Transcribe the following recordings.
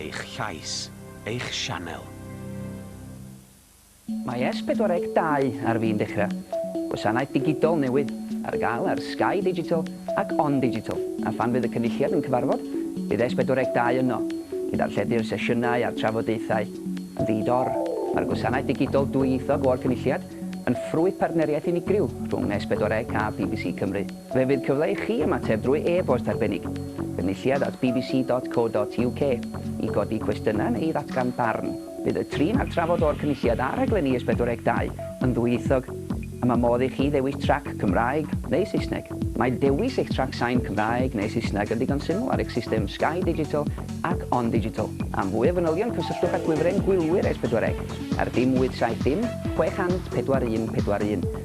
Eich llais, eich sianel. Mae S pedwar deg dau ar fin dechrau. Gwasanaeth digidol newydd, ar gael ar Sky Digital ac On Digital, a phan fydd y Cynulliad yn cyfarfod, bydd S pedwar deg dau yno, i ddarlledu'r sesiynau a'r trafodaethau. Yn ddi-dor, mae'r gwasanaeth digidol dwyieithog o'r Cynulliad yn ffrwyth partneriaeth unigryw rhwng S pedwar deg a bbc Cymru. Fe fydd cyfle i chi ymateb drwy e-bost arbennig, Cynulliad at bbc.co.uk, i godi cwestiynau neu i ddatgan barn. Bydd y trin a'r trafod o'r Cynulliad a rhaglenni S42 yn ddwyieithog, a mae modd i chi ddewis trac Cymraeg neu Saesneg. Mae dewis eich trac sain Cymraeg neu Saesneg yn ddigon syml ar eich system Sky Digital ac On Digital. Am fwy o fanylion cysylltwch â Gwifren Gwylwyr S4C ar dim 870 600 4141.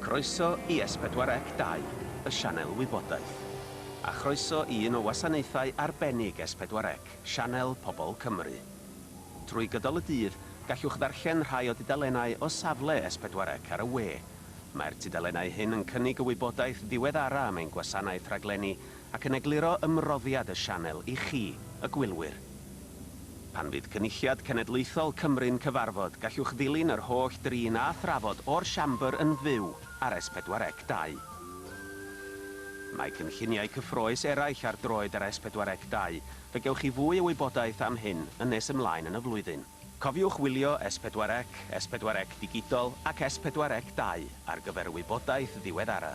Croeso i S4C 2, y sianel wybodaeth. A chroeso i un o wasanaethau arbennig S4C, Sianel Pobl Cymru. Trwy gydol y dydd, gallwch ddarllen rhai o dudalennau o safle S4C ar y we. Mae'r tudalennau hyn yn cynnig y wybodaeth ddiweddara' am ein gwasanaeth rhaglenni ac yn egluro ymroddiad y sianel i chi, y gwylwyr. Pan fydd Cynulliad Cenedlaethol Cymru'n cyfarfod, gallwch ddilyn yr holl drin a thrafod o'r Siambr yn fyw ar S4C 2. Mae cynlluniau cyffrous eraill ar droed ar S4C 2, fe gewch chi fwy o wybodaeth am hyn yn nes ymlaen yn y flwyddyn. Cofiwch wylio S4C, S4C Digidol ac S4C 2 ar gyfer y wybodaeth ddiweddara.